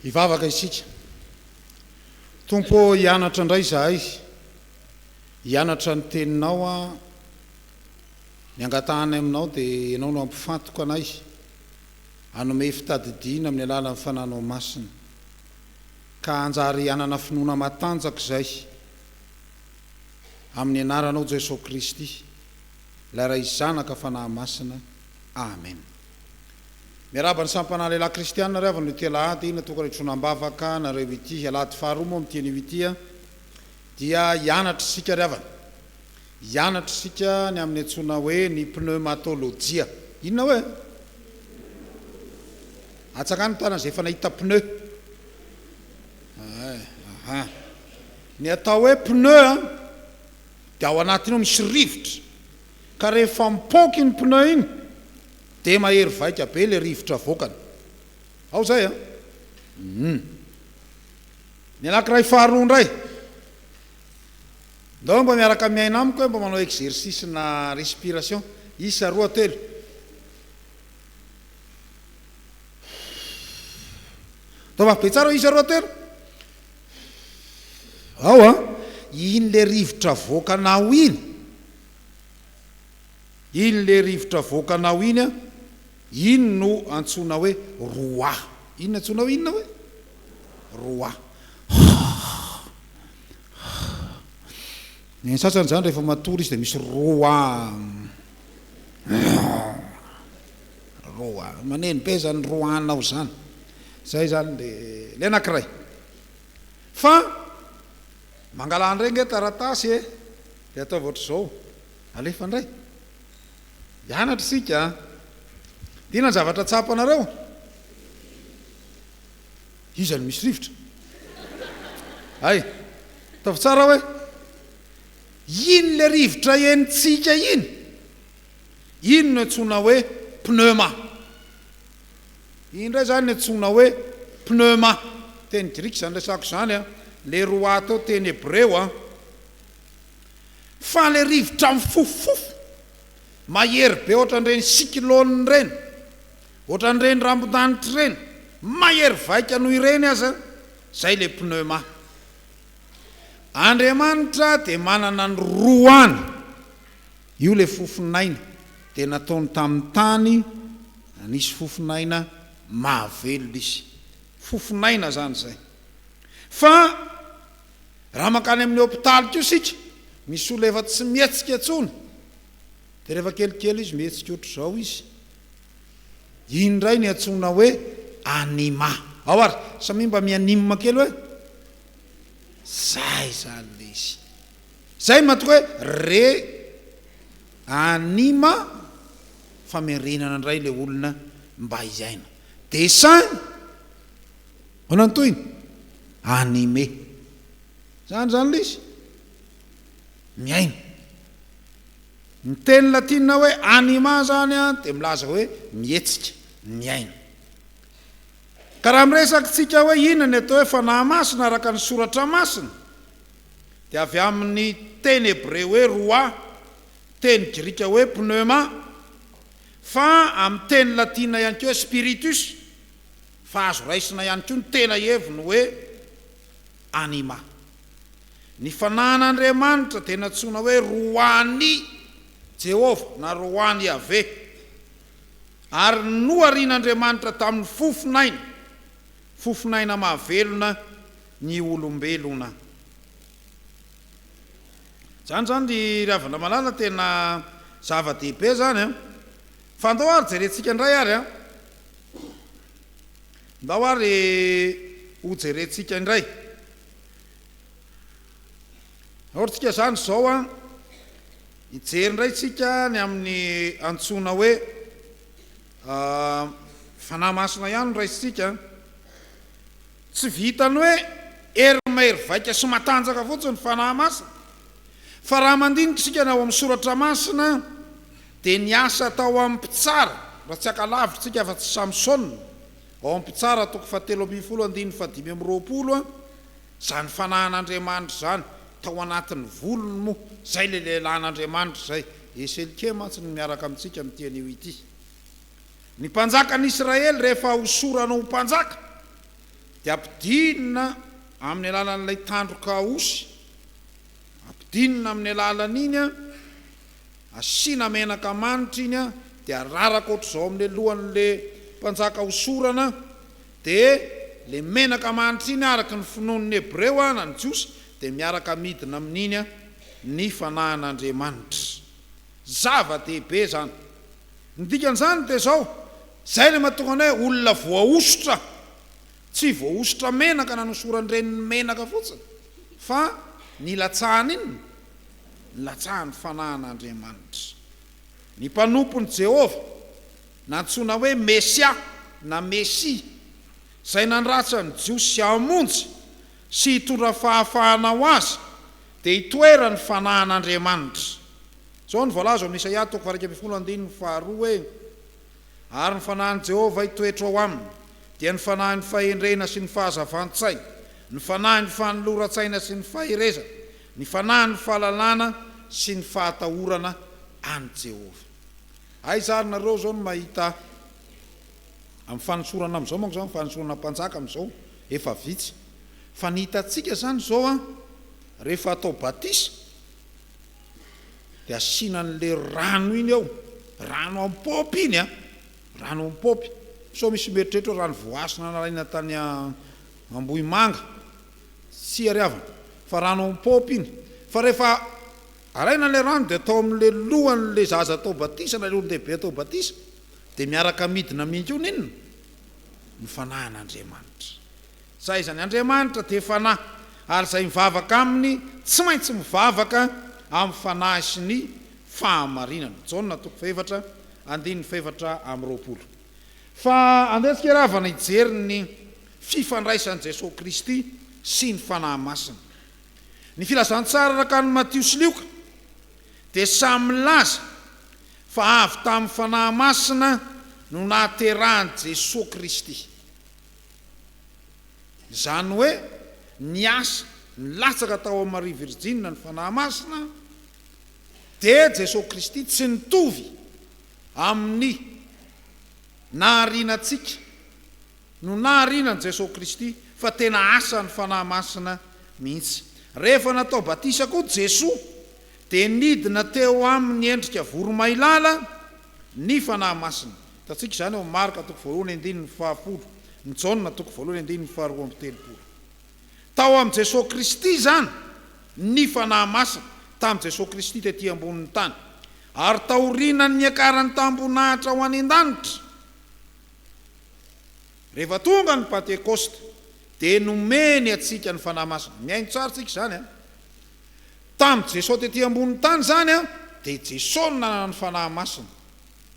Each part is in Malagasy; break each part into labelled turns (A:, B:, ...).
A: Hivavaka isika. Tompo ô, hianatra indray izahay, hianatra ny Teninao aho, ny angatahanay Aminao dia Ianao no hampifantoka anay, hanome fitadidiana amin'ny alalan'ny Fananao Masina, ka hanjary hanana finoana matanjaka izay. Amin'ny anaranao Jeso Kristy, Ilay Ray Zanaka Fanahy Masina. Amen. Miarahaba ny samy mpanahy lehilahy kristiana ry havana ity alahady natokana hitroana am-bavaka anareo ity. Alahady faharoa moa amin'ity anio ity dia hianatra isika ry havana. Hianatra isika ny amin'ny antsoina hoe ny pneumatolojia. Inona hoe? Atsangano ny tanana izay efa nahita pneu. Ahaa. Ny atao hoe pneu an, dia ao anatiny ao misy rivotra, ka rehefa mipoaka iny pneu iny dia mahery vaika be ilay rivotra avoakany. Ao izay an. Hum. Ny anankiray faharoa indray, ndao mba miaraka miaina amiko hoe mba manao exercice na respiration, isa, roa, telo. Taovavy be tsara isa roa telo. Ao a! Iny le rivotra avoakanao iny, iny le rivotra avoakanao iny a, iny no antsoina hoe roi. Iny antsoinao inona hoe? Roi. Ny sasany izany rehefa matory izy dia misy roi. Roa. Maneno be zany roa anao zany. Zay zany le le anakiray. Fa mangalà ndray nge taratasy e. De ataovy ohatr'izao. Alefa ndray. Hianatra isika a. Inona ny zavatra tsapanareo? Iza no misy rivotra? Hay. Ataovy tsara hoe. Iny le rivotra henontsika iny, iny no antsoina hoe pneuma. Iny indray izany no antsoina hoe pneuma, teny grika izany resako izany an, le roato teny hebreo an. Fa le rivotra mifofofofo, mahery be ohatran'ireny cyclone ireny, ohatran'ireny rambondanitra ireny, mahery vaika noho ireny aza, izay le pneuma. Andriamanitra dia manana ny roany, io ilay fofon'aina dia nataony tamin'ny tany nanisy fofon'aina mahavelona izy, fofon'aina izany izay fa raha mankany amin'ny hopitaly koa isika misy olona efa tsy mihetsika intsony dia rehefa kelikely izy mihetsika ohatr'izao izy, Iny indray ny antsoina hoe anima. Ao ary, samia mba mianima kely hoe. Zay zany le izy. Zay matoa hoe re anima famerenana indray le olona mba hiaina. Dessin, ahoana ny tohiny? Animé. Zany zany le izy. Miaina. Ny teny latina hoe anima izany dia milaza hoe mihetsika, miaina. Ka raha miresakintsika hoe inona ny atao hoe fanahy masina araka ny Soratra Masina dia avy amin'ny teny hebreo hoe roha, teny grika hoe pneuma, fa amin'ny teny latina ihany koa hoe spiritus, fa azo raisina ihany koa ny tena heviny hoe Anima. Ny fanahin'Andriamanitra dia nantsoina hoe Roan'i Jehovah na Roan'i Yaveh, ary noharian'Andriamanitra tamin'ny fofon'aina, fofon'aina mahavelona, ny olombelona. Izany izany ry ravana malala tena zava-dehibe izany an! Fa andao ary jerentsika indray ary an! Ndao ary ho jerentsika indray or tsika zany zao an, hijery indray tsika ny amin'ny antsoina hoe fanahy masina ihany no raisintsika an, tsy vitan'ny hoe hery mahery vaika sy matanjaka fotsiny ny fanahy masina fa raha mandinika isika ny ao amin'ny soratra masina, Dia niasa tao amin'ny mpitsara, raha tsy haka lavitra isika afa-tsy Samsona, ao amin'ny Mpitsara toko fahatelo ambin'ny folo andininy fahadimy amby roapolo, izany fanahin'Andriamanitra izany, tao anatin'ny volony moa, izay ilay lehilahin'Andriamanitra izay, Eselkia mantsy no miaraka amintsika amin'ity anio ity. Ny mpanjakan'Israely rehefa hosorana ho mpanjaka, dia ampidinina amin'ny alalan'ilay tandroka osy, ampidinina amin'ny alalan'iny, Asiana menaka manitra iny an, dia araraka ohatr'izao amin'ilay lohan'ilay mpanjaka hosorana an, dia ilay menaka manitra iny araka ny finoan'ny Hebreo an, na ny Jiosy, dia miaraka midina amin'iny an, ny Fanahin'Andriamanitra. Zava-dehibe izany. Ny dikan'izany dia izao, izay ilay mahatonga anay hoe olona voahosotra. Tsy voahosotra menaka na nosoran'ny reniny menaka fotsiny, fa nilatsahany inona? nilatsahan'ny fanahin'Andriamanitra. Ny mpanompon'i Jehovah, nantsoina hoe Mesia na Mesia, izay nandratra ny Jiosy hamonjy sy hitondra fahafahana ho azy, dia itoeran'ny fanahin'Andriamanitra. Izao no voalaza ao amin'ny Isaia toko faha-iraika ambin'ny folo andininy faharoa hoe, Ary ny fanahin'i Jehovah hitoetra ao aminy, dia ny fanahin'ny fahendrena sy ny fahazavan-tsaina, ny fanahin'ny fanoloran-tsaina sy ny faherezana, Ny fanahy no fahalalana sy ny fahatahorana an'i Jehovah. Aiza ary nareo izao no mahita amin'ny fanosorana amin'izao manko izany fanosorana mpanjaka amin'izao efa vitsy fa ny hitantsika izany izao an rehefa atao batisa dia asiana an'le rano iny ao rano am paopy iny an rano am paopy sao misy mieritreritra hoe rano voahasina nalaina tany Ambohimanga Tsy ariavana fa rano am paopy iny fa rehefa araina ilay rano dia atao amin'ilay lohan'ilay zaza atao batisa na ilay olon-dehibe atao batisa dia miaraka midina mihintsy hono inona? ny fanahin'Andriamanitra. Sa iza ny Andriamanitra dia fanahy ary izay mivavaka aminy tsy maintsy mivavaka amin'ny fanahy sy ny fahamarinana. Jaona toko fahefatra andininy fahefatra amby roapolo. Fa andeha antsika ary havana hijery ny fifandraisan'i Jesoa Kristy sy ny Fanahy Masina. Ny Filazantsara araka an'i Matio sy Lioka dia samy milaza fa avy tamin'ny Fanahy Masina no nahaterahan'i Jesoa Kristy. Izany hoe niasa nilatsaka tao amin'i Maria Virjina ny Fanahy Masina dia Jesoa Kristy tsy nitovy. Amin'ny nahariana antsika no nahariana an'i Jesoa Kristy fa tena asan'ny Fanahy Masina mihitsy. Rehefa natao batisa koa Jesoa dia nidina teo aminy endrika voromailala ny Fanahy Masina. Hitantsika izany ao amin'ny Marka toko voalohany andininy fahafolo, ny Jaona toko voalohany andininy faharoa amby telopolo. Tao amin'i Jesoa Kristy izany ny Fanahy Masina, tamin'i Jesoa Kristy tety ambonin'ny tany. Ary taorianan'ny niakarany tam-boninahitra ho any an-danitra, rehefa tonga ny Pantekosta, dia nomeny antsika ny Fanahy Masina. Mihaino tsara tsika izany an! Tamin'i Jesoa tety ambonin'ny tany izany an, dia i Jesoa no nanana ny Fanahy Masina.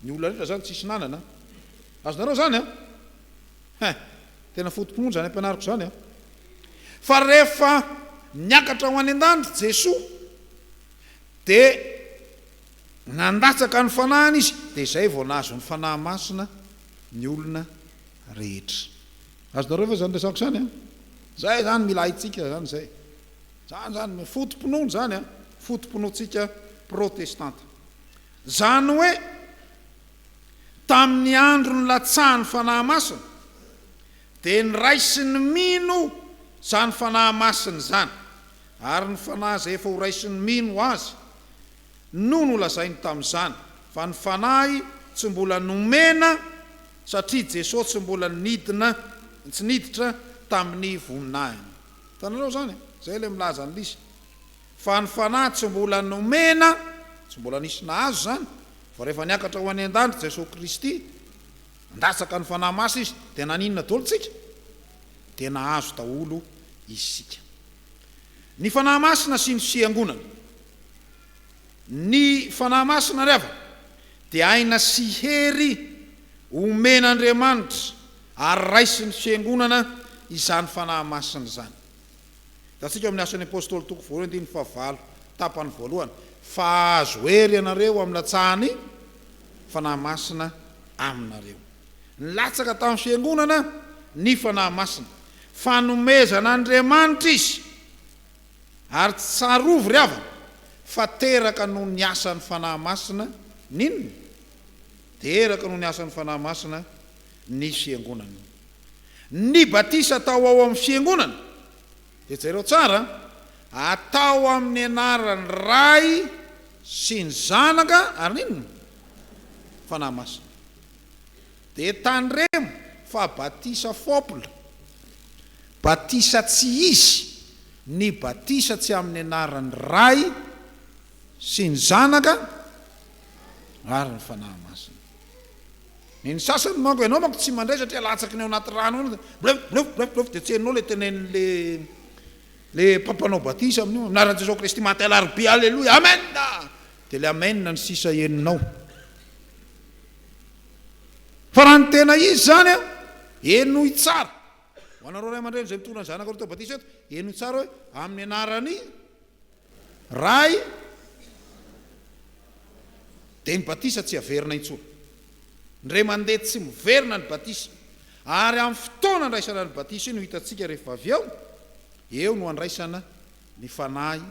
A: Ny olona rehetra izany tsisy nanana. Azonareo izany an? Hein! Tena foto-pinoana izany ampianariko izany an! Fa rehefa niakatra ho any an-danitra Jesoa dia nandatsaka ny fanahiny Izy, dia izay vao nahazo ny Fanahy Masina ny olona rehetra. Azonareo ve izany resako izany an! Izay izany mila haintsika izany izay. Izany izany, foto-pinoana izany an! Foto-pinoantsika protestanta. Izany hoe, tamin'ny andro nilatsahan'ny Fanahy Masina, dia niray sy nimino izany Fanahy Masina izany, ary ny Fanahy izay efa ho ray sy nimino Azy no nolazainy tamin'izany, fa ny Fanahy tsy mbola nomena satria Jesoa tsy mbola nidina, tsy niditra tamin'ny voninahiny. Hitanareo izany e? Izay ilay milaza an'ilay izy. Fa ny fanahy tsy mbola nomena, tsy mbola nisy nahazo izany, fa rehefa niakatra ho any an-danitra Jesosy Kristy, nandatsaka ny Fanahy Masina Izy, dia naninona daholo isika? Dia nahazo daholo isika. Ny Fanahy Masina sy ny Fiangonana. Ny Fanahy Masina ry havana dia aina sy hery omen'Andriamanitra ary raisin'ny Fiangonana izany Fanahy Masina izany. Hitantsika ao amin'ny Asan'ny Apôstôly toko voalohany andininy fahavalo tapany voalohany fa hahazo hery ianareo amin'ny latsahan'ny Fanahy Masina aminareo. Nilatsaka tamin'ny Fiangonana ny Fanahy Masina. Fanomezan'Andriamanitra izy ary tsy tsarovy ry havana fa teraka noho ny asan'ny Fanahy Masina ny inona? Teraka noho ny asan'ny Fanahy Masina ny Fiangonana. Ny batisa atao ao amin'ny Fiangonana, dia jereo tsara a, atao amin'ny anaran'ny Ray sy ny Zanaka ary ny inona? Fanahy Masina. Dia tandremo fa batisa fopl, batisa tsy izy, ny batisa tsy amin'ny anaran'ny Ray sy ny Zanaka ary ny Fanahy Masina. Ny ny sasany manko ianao manko tsy mandray satria alatsaky ny ao anaty rano ao blef blef blef blef de tsy henonao le tenenin le le mpampanao batisa amin'io amin'ny anaran'i Jesosy Kristy maty alarobia aleloia amen de le amen ny sisa henonao fa raha ny tena izy zany a henoy tsara ho anareo ray aman-dreny izay mitondra ny zanaka ireo tao batisa eto henoy tsara hoe amin'ny anaran'i Ray dia ny batisa tsy averina intsony. Indray mandeha tsy miverina ny batisa. Ary amin'ny fotoana andraisana ny batisa io no hitantsika rehefa avy eo, eo no andraisana ny Fanahy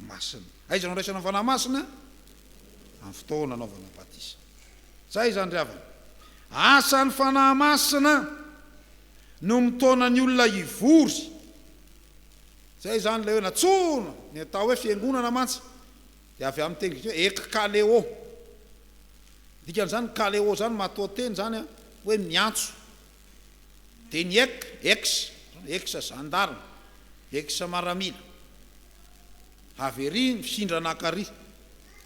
A: Masina. Aiza no andraisana ny Fanahy Masina? Amin'ny fotoana anaovana batisa. Zay izany ry havana. Asan'ny Fanahy Masina no mitaona ny olona hivory. Izay izany ilay hoe nantsoina, ny atao hoe fiangonana mantsy dia avy amin'ny teny grika hoe ek kale'o. Ny dikan'izany kale'o izany matoanteny izany hoe miantso. Dia ny ek, ex, ex zandarme, ex maramila, avy ery mifindra nankary.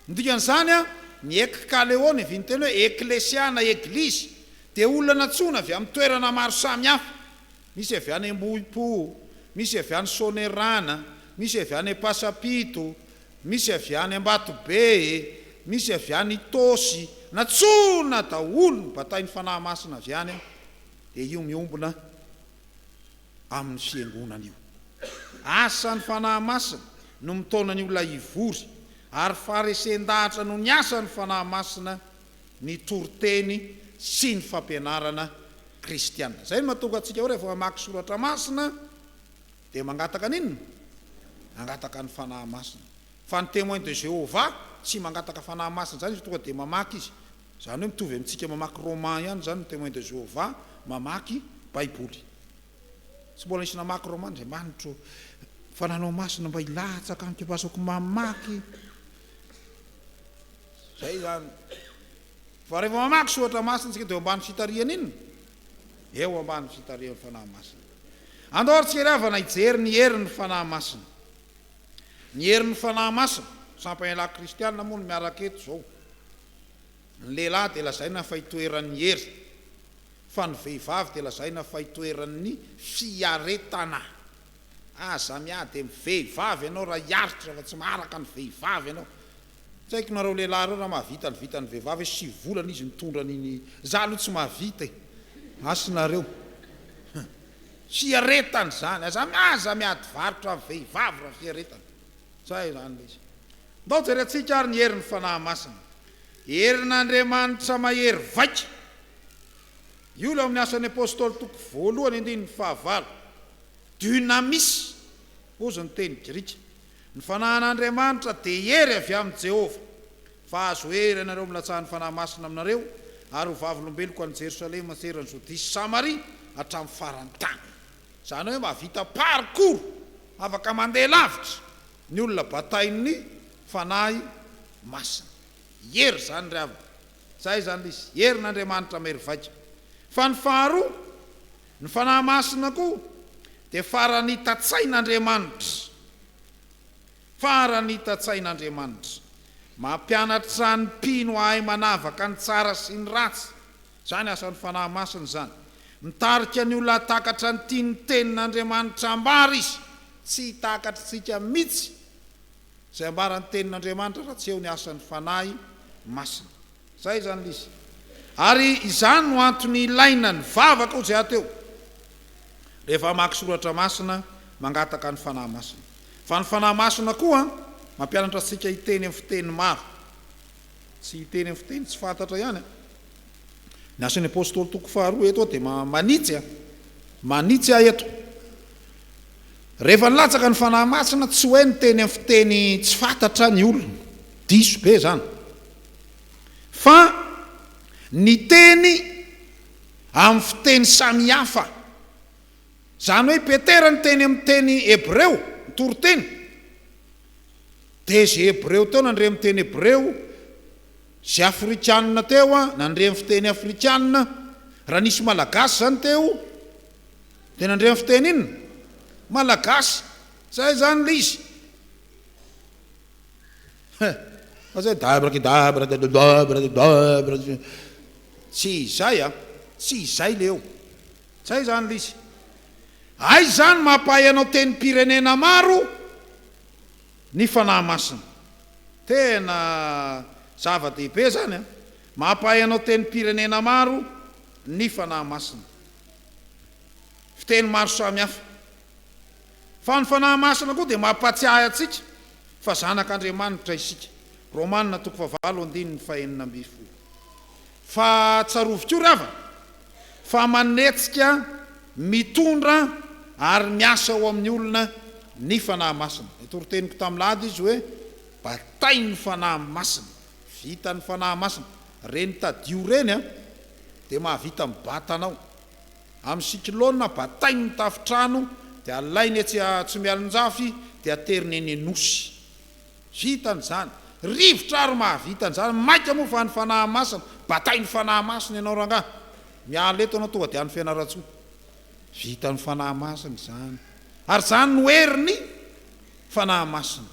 A: Ny dikan'izany ny ek kale'o niavian'ny teny hoe eklesia na eglizy dia olona nantsoina avy amin'ny toerana maro samihafa. Misy avy any Ambohipo, misy avy any Soanierana, misy avy any Ampasampito, misy avy any Ambatobe, misy avy any Itaosy, nantsoina daholo ny batain'ny Fanahy Masina avy any aho, dia io miombona amin'ny Fiangonana io. Asan'ny Fanahy Masina no mitaona ny olona hivory, ary faharesen-dahatra no ny asan'ny Fanahy Masina ny toriteny sy ny fampianarana kristiana. Izay no mahatonga antsika hoe rehefa mamaky soratra masina dia mangataka ny inona? Mangataka ny fanahy masina. Fa ny Témoin de Jéhovah tsy mangataka fanahy masina izany izy tonga dia mamaky izy. Izany hoe mitovy amintsika mamaky roman ihany izany ny Témoin de Jéhovah mamaky baiboly. Tsy mbola nisy namaky roman, Andriamanitro fananao masina mba hilatsaka amiko mba azoko mamaky. Izay izany. Fa rehefa mamaky soratra masina isika dia eo ambany fitarihan' inona? Eo ambany fitarihan' ny Fanahy Masina. Andao ary tsikery havana hijery ny herin' ny Fanahy Masina. Ny herin' ny Fanahy Masina, sampam-panialahy kristiana moa no miaraka eto izao. Ny lehilahy dia lazaina fa itoeran' ny hery, fa ny vehivavy dia lazaina fa itoeran' ny fiaretana. Aza miady amin' ny vehivavy ianao raha hiaritra fa tsy maharaka ny vehivavy ianao. Tsy haiko nareo lehilahy reo raha mahavita ny vitan'ny vehivavy hoe sivy volana izy nitondra an'iny za aloha tsy mahavita e! Asy nareo! Hum! Fiaretana izany! Aza aza miady varotra amin'ny vehivavy raha fiaretana! Zay izany le izy! Ndao jerentsika ary ny herin'ny Fanahy Masina! Herin'Andriamanitra mahery vaika! Io le ao amin'ny Asan'ny Apostoly toko voalohany andininy fahavalo! Dunamis! Hozy ny teny grika! Ny fanahin'Andriamanitra dia hery avy amin'i Jehovah, fa azo hery ianareo amin'ny latsahan'ny Fanahy Masina aminareo, ary ho vavolombeloko any Jerosalema an-tseran'i Jodia sy Samaria hatramin'ny faran'ny tany. Izany hoe mahavita parcours, afaka mandeha lavitra, ny olona batain'ny Fanahy Masina. Hery izany ry havana. Izay izany ilay izy, herin'Andriamanitra mahery vaika. Fa ny faharoa. Ny Fanahy Masina koa dia faran'ny tatsain'Andriamanitra. Faran'ny tatsain'Andriamanitra. Mampianatra ny mpino hahay manavaka ny tsara sy ny ratsy. Izany asan'ny Fanahy Masina izany. Mitarika ny olona hahatakatra ny tian'ny Tenin'Andriamanitra ambara izy. Tsy hitakatr'tsika mitsy izay ambaran'ny Tenin'Andriamanitra raha tsy eo ny asan'ny Fanahy Masina. Izay izany lisy. Ary izany no antony ilaina ny vavaka ho jehateo rehefa hamaky soratra masina mangataka ny Fanahy Masina. Fa ny Fanahy Masina koa mampianatra antsika hiteny amin'ny fiteny maro. Tsy hiteny amin'ny fiteny tsy fantatra ihany an. Ny Asan'ny Apostoly toko faharoa eto dia manitsy an. Manitsy ahy eto. Rehefa nilatsaka ny Fanahy Masina tsy hoe niteny amin'ny fiteny tsy fantatra ny olona. Diso be izany. Fa ny teny amin'ny fiteny samihafa, izany hoe Petera niteny amin'ny teny hebreo, ny toriteny, dia izay hebreo teo nandre ny teny hebreo, izay afrikanina teo nandre ny fiteny afrikanina, raha nisy malagasy izany teo dia nandre ny fiteny inona? malagasy, izay izany ilay izy. He! fa zay dabrakidabra dadadabradadabra tsy izay a! tsy izay le eo! zay zany le izy! aiza zany mampahay anao tenim-pirenena maro ny Fanahy Masina? tena zava-dehibe zany a! mampahay anao tenim-pirenena maro ny Fanahy Masina! fiteny maro samy hafa Fa ny Fanahy Masina koa dia mampatsiahy antsika fa zanak'Andriamanitra isika, Romana toko fahavalo andininy fahenina ambin'ny folo. Fa tsarovy koa ry havana, fa manetsika, mitondra ary miasa ao amin'ny olona ny Fanahy Masina. Nitorin-teniko tamin'lahady izy hoe, batain'ny Fanahy Masina, vitan'ny Fanahy Masina, ireny tadio ireny dia mahavita mibata anao. Amin'ny cyclone, batainy ny tafontrano dia alainy etsy Atsimialonjafy dia ateriny eny Anosy. Vita ny zany. Rivotra ary mahavita ny zany. Maika moa fa any Fanahamasina. Batainy Fanahamasina ianao rangaha. Miala eto ianao tonga dia any Fianarantsoa. Vitany Fanahamasina izany. Ary izany no heriny Fanahamasina.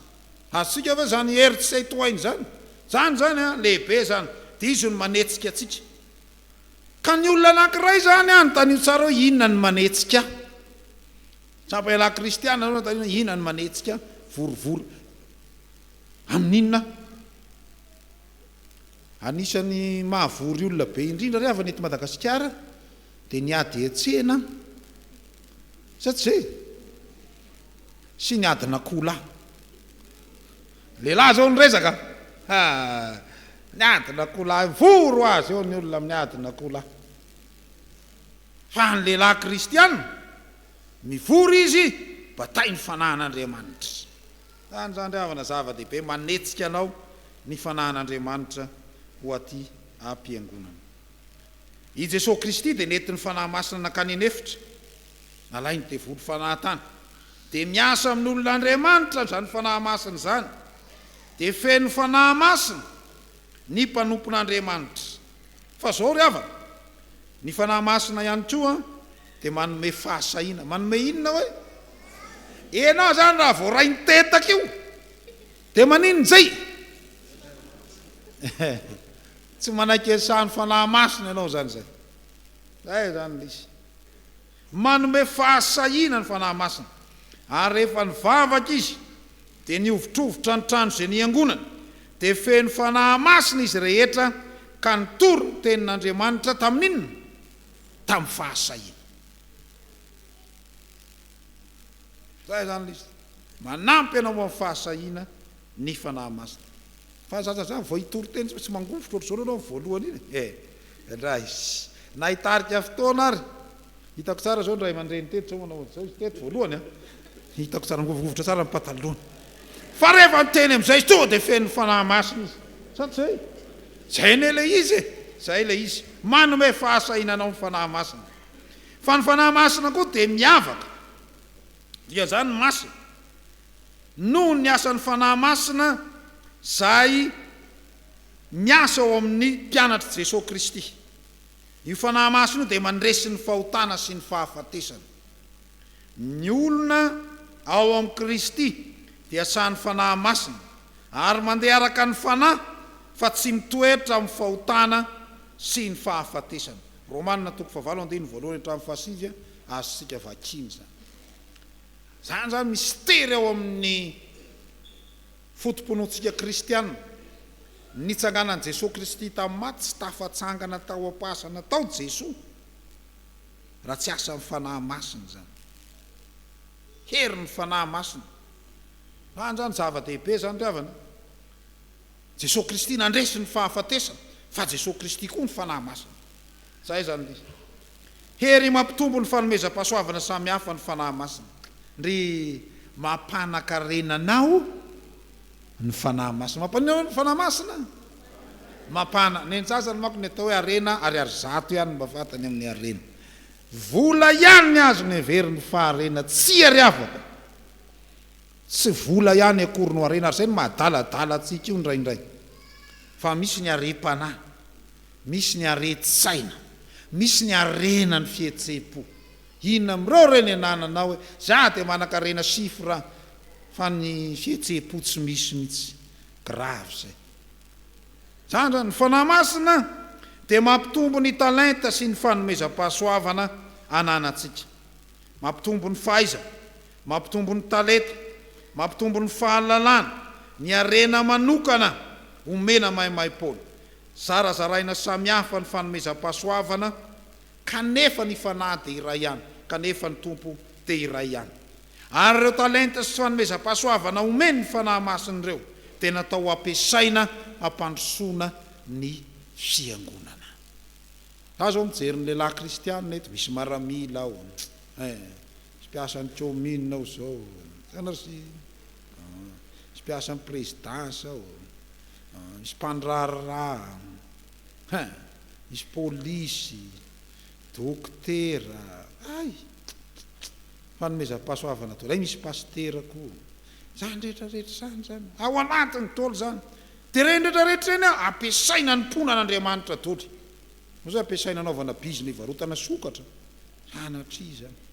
A: Azontsika ve izany hery tsy hay tohaina izany? Izany izany an, lehibe izany. Dia izy no manetsika antsika. Ka ny olona anankiray izany anontanio tsara hoe inona ny manetsika ahy. Tsapa ialahy kristiana aloha anontanio hoe inona ny manetsika ahy, vorivory amin'inona aho. Anisan'ny mahavory olona be indrindra ry havana eto Madagasikara dia ny ady hetsena, sa tsy izay? sy ny adin'akoholahy. Lehilahy izao no resaka, ha! Ny adin'akoholahy, mivory ho azy eo ny olona amin'ny adin'akoholahy. Fa ny lehilahy kristiana, mivory izy, batain'ny fanahin'Andriamanitra. Izany izany ry havana zava-dehibe, manetsika anao ny fanahin'Andriamanitra ho aty am-piangonana. I Jesoa Kristy dia nentin'ny Fanahy Masina nankany an'efitra, nalain'ny devoly fanahy tany. Dia miasa amin'olona Andriamanitra izany Fanahy Masina izany. Dia feno Fanahy Masina ny mpanompon'Andriamanitra. Fa zao ry havana, ny Fanahy Masina ihany koa dia manome fahasahiana. Manome inona hoe? Ianao izany raha vao rain-tetaka io, dia maninona izay? Tsy manaiky ny sahan'ny Fanahy Masina ianao izany izay. Izay izany ilay izy. Manome fahasahiana ny Fanahy Masina, ary rehefa nivavaka izy, dia nihovitrovitra ny trano izay niangonany, dia feno Fanahy Masina izy rehetra ka nitory ny tenin'Andriamanitra tamin'inona? Tamin'ny fahasahiana. Zay izany lisitra. Manampy anao amin'ny fahasahiana. ny Fanahy Masina. Fa aza aza zany vao hitory teny sao tsy mangovitra ohatr'izao nareo amin'ny voalohany iny e! Elah izy na hitarika fotoana ary! Hitako tsara zao ny ray aman-dreny teto sao manao ohatr'izao izy teto voalohany a! Hitako tsara angovingovitra tsara ny pataloany. Fa rehefa niteny amin'izay izy tonga dia fenon'ny Fanahy Masina izy. Sa tsy zay? Zay anie ilay izy e! Zay ilay izy. Manome fahasahiana anao ny Fanahy Masina. Fa ny Fanahy Masina koa dia miavaka. Dia izany masina. Noho ny asan'ny Fanahy Masina izay miasa ao amin'ny mpianatr'i Jesoa Kristy. Io Fanahy Masina io dia mandresy ny fahotana sy ny fahafatesana. Ny olona ao amin'i Kristy dia sahan'ny Fanahy Masina ary mandeha araka ny Fanahy fa tsy mitoetra amin'ny fahotana sy ny fahafatesana. Romana toko fahavalo andininy voalohany hatramin'ny fahasivy, azontsika vakiana izany. Izany izany mistery ao amin'ny foto-pinoantsika kristiana. Nitsanganan'i Jesoa Kristy tamin'ny maty, tsy tafatsangana tao am-pahasana tao Jesoa raha tsy asan'ny Fanahy Masina izany. Herin'ny Fanahy Masina. Izany izany zava-dehibe izany ry havana. Jesoa Kristy nandresy ny fahafatesana, fa Jesoa Kristy koa ny Fanahy Masina. Izay izany. Hery mampitombo ny fanomezam-pahasoavana samy hafa ny Fanahy Masina. Ndry mampanankarena anao ny Fanahy Masina. Mampanino anao ny Fanahy Masina? Mampana. Ny antsasany manko ny atao hoe harena ariary zato ihany no mba fantany amin'ny harena. Vola ihany ny azony heveriny fa harena. Tsia ry havako. Tsy vola ihany akory no harena ary izay no mahadaladala antsika io indraindray. Fa misy ny harem-panahy. Misy ny aretin-tsaina, misy ny harena ny fihetsem-po. Inona amin'ireo ireo ny anananao hoe za dia manan-karena chiffre an, fa ny fihetsem-po tsy misy mihitsy. Grave izay. Izany izany, ny Fanahy Masina dia mampitombo ny talenta sy ny fanomezam-pahasoavana ananantsika. Mampitombo ny fahaizana, mampitombo ny talenta, mampitombo ny fahalalana, ny harena manokana omena maimaim-poana. Zarazaraina samihafa ny fanomezam-pahasoavana kanefa ny Fanahy dia iray ihany, kanefa ny Tompo dia iray ihany. Ary ireo talenta sy fanomezam-pahasoavana omen'ny Fanahy Masina ireo dia natao ho ampiasaina hampandrosoana ny Fiangonana. Za zao mijery ny lehilahy kristianina eto, misy maramila ao, eh, misy mpiasan'ny commune ao zao, hitanareo? Misy mpiasan'ny prezidansa ao, misy mpandraharaha, hein, misy polisy, dokotera, hay! Fanomezam-pahasoavana daholo, hay misy pasitera koa. Izany rehetra rehetra izany izany, ao anatiny daholo izany. Dia ireny rehetra rehetra ireny an, ampiasaina hanompoana an'Andriamanitra daholo. Moa izany ampiasaina hanaovana bizina hivarotana sokatra? Sanatria izany.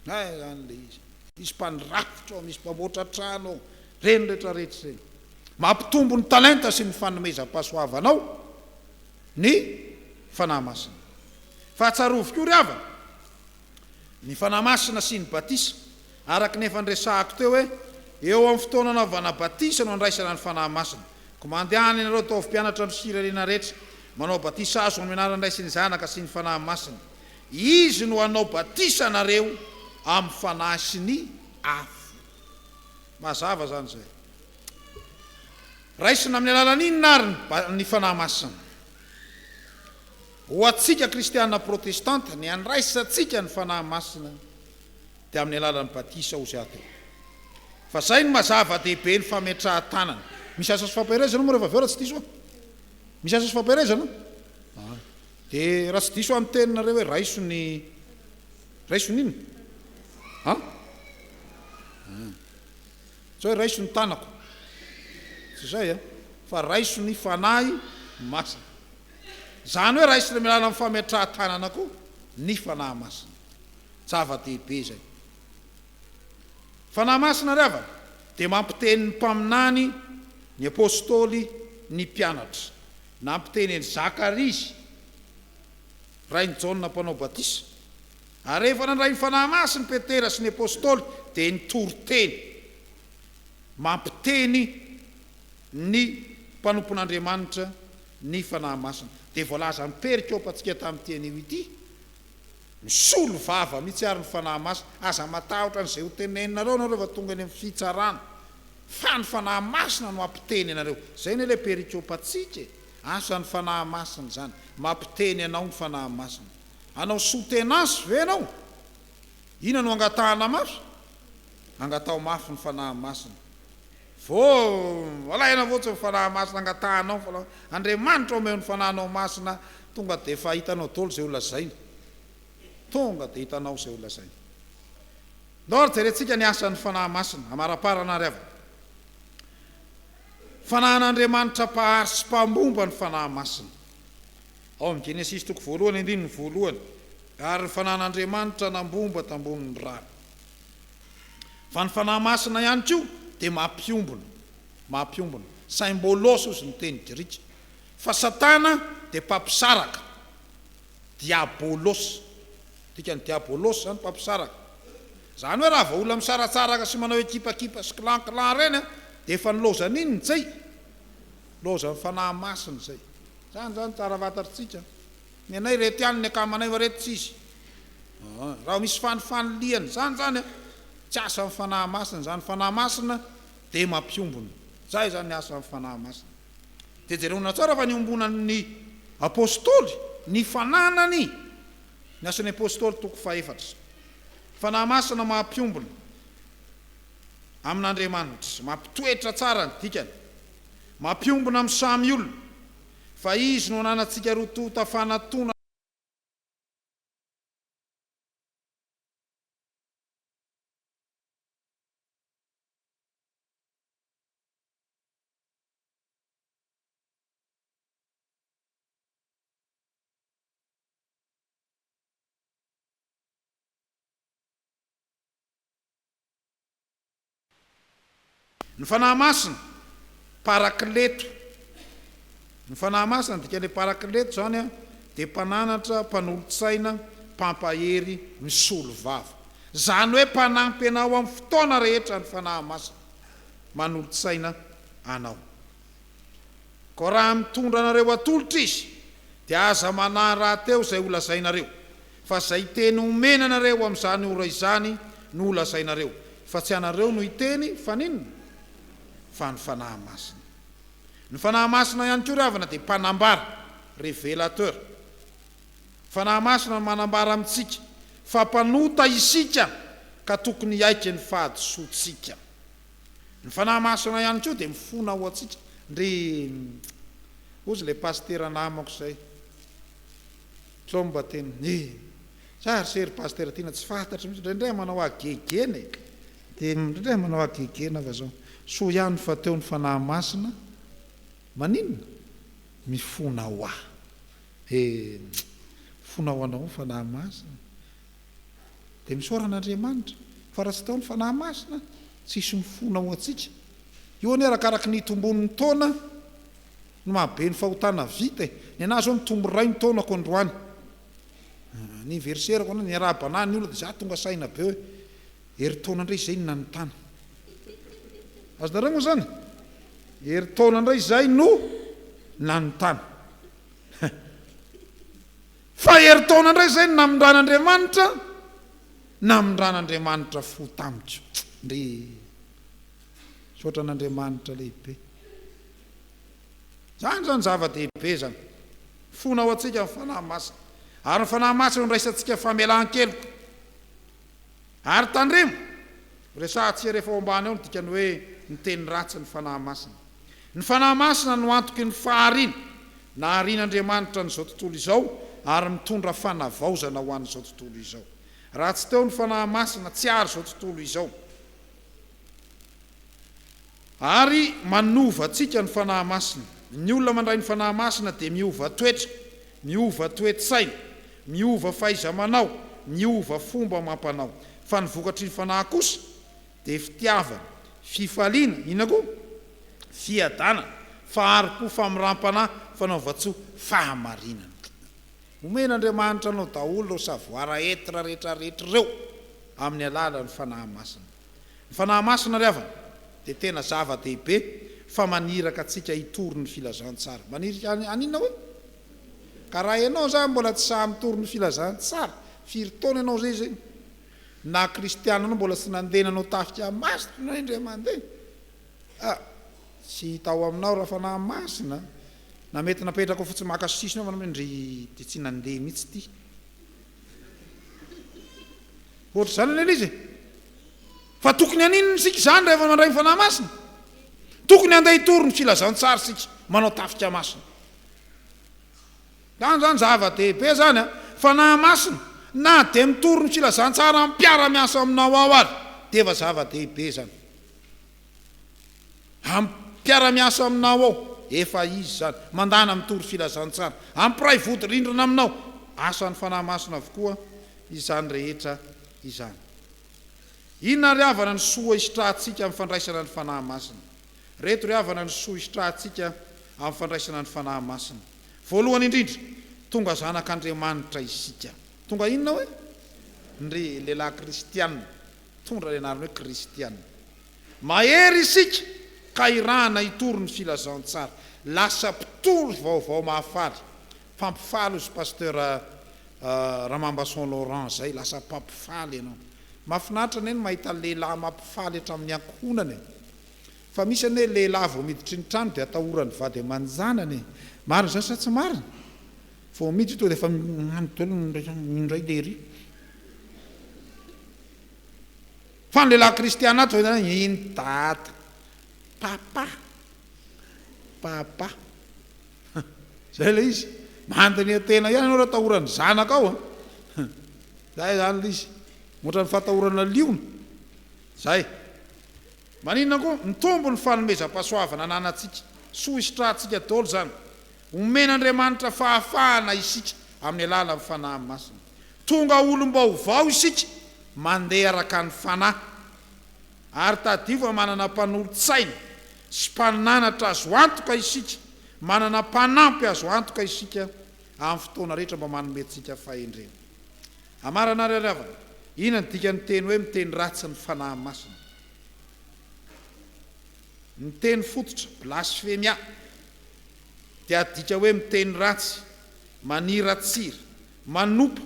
A: Hay zany le izy. Misy mpandrafitra ao, misy mpamboatra trano ao, reny rehetra rehetra ireny. Mampitombo ny talenta sy ny fanomezam-pahasoavanao ny Fanahy Masina. Fahatsiarovy koa ry havana, ny Fanahy Masina sy ny batisa, araka ny efa niresahako teo hoe eo amin'ny fotoana anaovana batisa no andraisana ny Fanahy Masina. Koa mandehana ianareo ataovy mpianatra amin'ny firenena rehetra, manao batisa azo amin'ny anaran'ny Ray sy ny Zanaka sy ny Fanahy Masina. Izy no hanao batisa anareo amin'ny Fanahy sy ny afo. Mazava izany izay. Raisina amin'ny alalan'inona ary ny Fanahy Masina? Ho antsika kristiana protestanta, ny andraisantsika ny Fanahy Masina dia amin'ny alalan'ny batisa hozy aho teo. Fa izay no mazava dehibe ny fametrahan-tanana. Misy asa sy fampiherezana moa rehefa avy eo raha tsy diso aho? Misy asa sy fampiherezana? Dia raha tsy diso aho ny teninareo hoe raiso ny raiso ny inona? an? an! tsy hoe raiso ny tanako tsy izay an! fa raiso ny Fanahy Masina izany hoe raisina amin'ny alalan'ny fametrahan-tanana koa ny Fanahy Masina zava-dehibe izay Fanahy Masina ry havana dia mampiteny ny mpaminany ny apostoly ny mpianatra Nampiteny an'i Zakaria izy, rain'i Jaona Mpanao Batisa, ary rehefa nandray ny fanahy masina i Petera sy ny apostoly, dia nitory teny mampiteny ny mpanompon'Andriamanitra ny fanahy masina. Dia voalaza amim-perikopantsika tamin'ity anio ity, Misolo vava mihitsy àry ny fanahy masina. Aza matahotra an'izay hoteneninareo ianareo rehefa tonga eny amin'ny fitsarana. Fa ny Fanahy Masina no hampiteny anareo. Izay anie ilay perikopantsika e! Asan'ny Fanahy Masina izany. Mampiteny anao ny Fanahy Masina. Hanao soutenance ve ianao? Inona no angatahana mafy? Angataho mafy ny Fanahy Masina. Vô, alaina fotsiny ny Fanahy Masina, angatahanao ny Fanahy Masina. Andriamanitra omeo ny Fanahinao Masina, tonga dia efa hitanao daholo izay ho lazaina. Tonga dia hitanao izay ho lazainy. Ndao ary jerentsika ny asan'ny Fanahy Masina amaraparana ary avy. Fanahin'Andriamanitra Mpahary sy Mpambomba ny Fanahy Masina. Ao amin'ny Genesisy toko voalohany andininy voalohany, Ary ny Fanahin'Andriamanitra nambomba tambonin'ny rano. Fa ny Fanahy Masina ihany koa dia mampiombona, mampiombona, symbolos hozy ny teny grika. Fa Satana dia mpampisaraka. Diabolos. Ny dikan'ny diabolos izany mpampisaraka. Izany hoe raha vao olona misaratsaraka sy manao ekipakipa sy clan clan ireny an, dia efa nilaozany inona izay? Nilaozan'ny Fanahy Masina izay. Izany izany tsara fantatritsika. Ny anay ireto ihany ny akamanay fa ireto tsisy. Aa. Raha misy fanifanilihana izany izany an, tsy asan'ny Fanahy Masina izany. Ny Fanahy Masina dia mampiombona. Izay izany ny asan'ny Fanahy Masina. Dia jerena tsara fa niombonan'ny Apostoly ny fananany, Ny Asan'ny Apostoly toko fahefatra, fanahy masina maha-mpiombona amin'Andriamanitra, mampitoetra tsara ny dikany, mampiombona amin'ny samy olona, fa Izy no ananantsika roa tonta fanatona, Ny Fanahy Masina, Parakleto. Ny Fanahy Masina, ny dikan'ilay Parakleto izany dia Mpananatra, Mpanolotsaina, Mpampahery, Misolovava. Izany hoe mpanampy anao amin'ny fotoana rehetra ny Fanahy Masina. manolo-tsaina anao. Koa raha mitondra anareo atolotra izy, dia aza manahy rahateo izay holazainareo, fa izay teny omena anareo amin'izany ora izany no holazainareo, fa tsy ianareo no hiteny, fa n'inona? fa ny Fanahy Masina. Ny Fanahy Masina ihany koa ry havana dia mpanambara, revelateur, Fanahy Masina no manambara amintsika fa mpanota isika ka tokony hiaiky ny fahadisoantsika. Ny Fanahy Masina ihany koa dia mifona ho antsika ndry ozy ilay pasitera namako izay Tlomba teny ny za ry se ry pasitera Tiana tsy fantatro mihintsy indraindray manao ahy gegena e dia indraindray manao ahy gegena fa zao soa ihany fa teo ny Fanahy Masina maninona mifona ho ahy Dia fona ho anao ny Fanahy Masina. Dia misaora an'Andriamanitra, fa raha tsy tao ny Fanahy Masina, tsy hisy mifona ho antsika. Io anie arakaraky ny itombon'ny taona no mahabe ny fahotana vita e. Ny anah zao mitombo iray ny taonako androany. Ny anniversaire-ko androany, niarahabana ny olona dia za tonga saina be hoe. Herintaona indray izay no nanontany. Azonareo moa izany? Herintaona indray izay no nanontany. Fa herintaona indray izay no namindran'Andriamanitra, namindran'Andriamanitra fo tamiko. Ndry! Misaotra an'Andriamanitra lehibe. Izany izany zava-dehibe izany. Fona ho antsika ny Fanahy Masina. Ary ny Fanahy Masina no niraisantsika famelan-keloka. Ary tandremo! Resahantsika rehefa ao ambany ao ny dikan'ny hoe ny teny ratsy ny Fanahy Masina. Ny Fanahy Masina no antoky ny fahariana. Naharian'Andriamanitra an'izao tontolo izao ary mitondra fanavaozana ho an'izao tontolo izao. Raha tsy teo ny Fanahy Masina, tsy hahary izao tontolo izao. Ary manova antsika ny Fanahy Masina. Ny olona mandray ny Fanahy Masina dia miova toetra, miova toe-tsaina, miova fahaiza-manao, miova fomba amam-panao. Fa ny vokatry ny Fanahy kosa dia fitiavana, fifaliana, inona koa? fiadanana, fahari-po, famiram-panahy, fanaovan-tsoa, fahamarinana. Omen'Andriamanitra anao daholo ireo savoir être rehetra rehetra ireo amin'ny alalan'ny Fanahy Masina. Ny Fanahy Masina ry havana dia tena zava-dehibe fa maniraka antsika hitory ny filazantsara. Manirika an an inona oe? Ka raha ianao zany mbola tsy sahy mitory ny filazantsara, firy taona ianao zay zegny? Na kristiana anao mbola tsy nandeha nanao tafika masina ianao indray mandeha? A! Tsy hita ao aminao raha Fanahy Masina na mety napetraka ao fotsiny maka sisiny ao fa ndry dia tsy nandeha mihitsy ity. Ohatr'izany anie ilay izy e. Fa tokony haninona isika izany rehefa mandray ny Fanahy Masina? Tokony handeha hitory ny filazantsara isika, manao tafika masina. Izany izany zava-dehibe izany an. Fanahy Masina, na dia mitory ny filazantsara mpiara-miasa aminao ao ary, dia efa zava-dehibe izany. Amin'ny mpiara-miasa aminao ao, efa izy izany, mandàna mitory filazantsara. Amin'ny mpiray vodirindrina aminao, asan'ny Fanahy Masina avokoa izany rehetra izany. Inona ry havana ny soa hisitrahantsika amin'ny fandraisana ny Fanahy Masina? Ireto ry havana ny soa hisitrahantsika amin'ny fandraisana ny Fanahy Masina. Voalohany indrindra, tonga zanak'Andriamanitra isika. Tonga inona hoy? Ndry lehilahy kristiana, Mitondra ny anarany hoe Kristiana. Mahery isika ka irahana hitory ny filazantsara. Lasa mpitory vaovao mahafaly. Mpampifaly ozy Pasteur Ramambason Laurent zay. Lasa mpampifaly ianao. Mafinaritra anie ny mahita lehilahy mampifaly hatramin'ny ankohonana e. Fa misy anie hoe lehilahy vao miditra ny trano dia atahoran'ny vady aman-janany e. Marina izany sa tsy marina? Vao miditra tonga dia efa magnano daholo ny indray lehilahy. Fa ny lehilahy kristiana ato izao dia iny Dada, Papa, Papa. Izay ilay izy. Mandiniha tena ihany ianao raha atahoran'ny zanakao a. Izay izany ilay izy. Ohatran'ny fatahorana liona. Izay. Maninona koa? Mitombo ny fanomezam-pahasoavana ananantsika. Soa hisitrahantsika daholo izany. Omen'Andriamanitra fahafahana isika amin'ny alalan'ny Fanahy Masina. Tonga olom-baovao isika mandeha araka ny Fanahy. Ary tadidio fa manana mpanolotsaina sy mpananatra azo antoka isika, manana mpanampy azo antoka isika amin'ny fotoana rehetra mba manome antsika fahendrena. Amarana ary aravana, inona no dikan'ny teny hoe miteny ratsy ny Fanahy Masina? Ny teny fototra, blasfemia, dia adika hoe miteny ratsy, maniratsira, Manompa.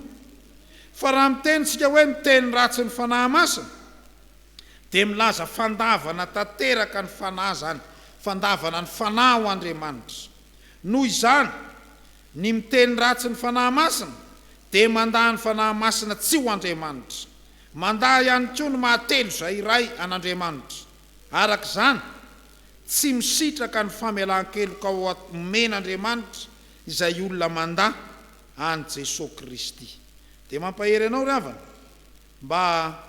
A: Fa raha miteny tsika hoe miteny ratsy ny Fanahy Masina, dia milaza fandavana tanteraka ny Fanahy izany, fandavana ny Fanahy ho Andriamanitra. Noho izany, ny miteny ratsy ny Fanahy Masina dia mandà ny Fanahy Masina tsy ho Andriamanitra. Mandà ihany koa ny maha-telo izay iray an'Andriamanitra. Araka izany, tsy misitraka ny famelan-keloka omen'Andriamanitra izay olona mandà. an'i Jesoa Kristy. Dia mampahery anao ry havana mba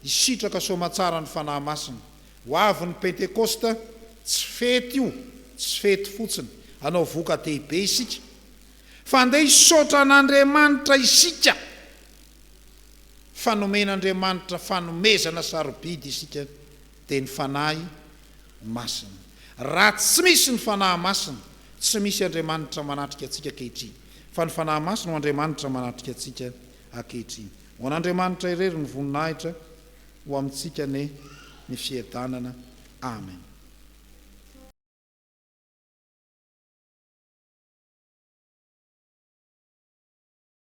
A: hisitraka soamantsara ny Fanahy Masina. Ho avy ny Pentekosta, tsy fety io, tsy fety fotsiny. Hanao voka-dehibe isika. Fa andeha hisaotra an'Andriamanitra isika fa nomen'Andriamanitra fanomezana sarobidy isika. dia ny Fanahy Masina. Raha tsy misy ny Fanahy Masina, tsy misy Andriamanitra manatrika antsika ankehitriny, fa ny Fanahy Masina no Andriamanitra manatrika antsika ankehitriny. Ho an'Andriamanitra irery ny voninahitra, ho amintsika anie ny fiadanana. Amen.